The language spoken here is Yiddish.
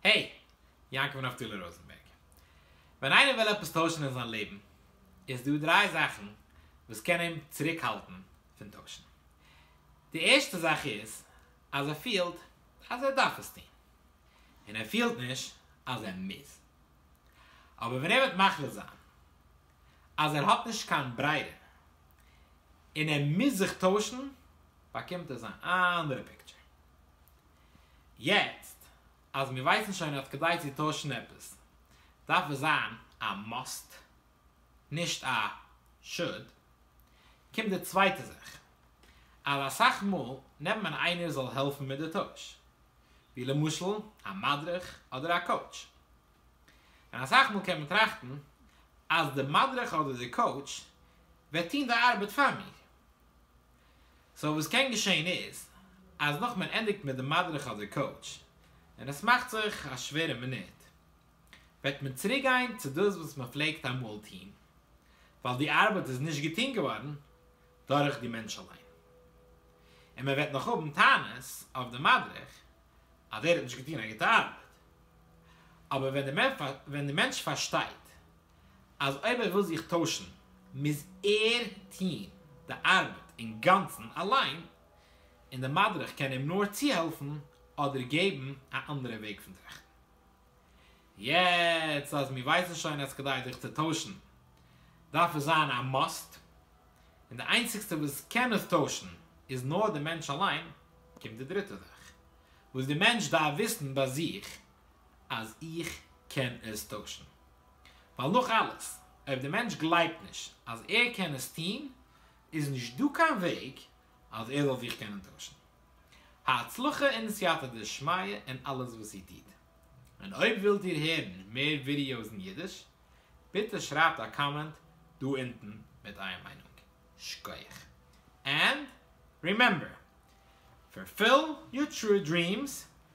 העי! יעקב נפתלי ראזענבערג. ווען איינער וויל עפעס טוישן אין זיין לעבן, איז דא דריי זאכן וואס קען אים צוריקהאלטן פון טוישן. די ערשטע זאך איז אז ער פילט אז ער דארף עס טון, און ער פילט נישט אז ער מוז. אבער ווען ער וועט מחליט זיין אז ער האט נישט קיין ברירה און ער מוז זיך טוישן, באקומט ער זיין אנדערע פיקטשער. יעצט אז מיר ווייסן שוין אז כדי צו טוישן עפעס דארף עס זיין א מאסט נישט א שאד, קומט די צווייטע זאך אז אסאך מאל נעמט מען איינער זאל העלפן מיט די טויש ווי למשל א מדריך אדער א קאוטש, און אסאך מאל קען מען טראכטן אז די מדריך אדער די קאוטש וועט טון די ארבעט פאר מיר, סאו וואס קען געשעהן איז אז נאך מען ענדיגט מיט די מדריך אדער קאוטש און עס מאכט זיך א שווערע מינוט וועט מען צוריק גיין צו דאס וואס מען פלעגט אמאל טוהן ווייל די ארבעט איז נישט געטוהן געווארן דורך די מענטש אליין און מען וועט נאך האבן טענות אויף די מדריך אז ער האט נישט געטוהן א גוטע ארבעט אבער ווען די מענטש פארשטייט אז אויב ער וויל זיך טוישן מוז ער טוהן די ארבעט אינגאנצן אליין, און די מדריך קען אים נאר צוהעלפן אדער געבן א אנדערע וועג פון טראכטן. יעצט אז מיר ווייסן שוין אז כדי זיך צו טוישן דארף עס זיין א מאסט, און די איינציגסטע וואס קען עס טוישן איז נאר די מענטש אליין, קומט די דריטע זאך וואס די מענטש דארף וויסן ביי זיך, אז איך קען עס טוישן. ווייל נאך אלעס, אויב דער מענטש גלייבט נישט אז ער קען עס טון, איז נישט דא קיין וועג אז ער זאל זיך קענען טוישן. הצלחה און סייעתא דשמיא אין אלעס וואס איר טוט. און אויב ווילט איר הערן מער ווידיאוס אין אידיש, ביטע שרייבט א קאמענט דא אונטן מיט אייער מיינונג. שקויעך. ענד רימעמבער, פארפיל יור טרו דרימס,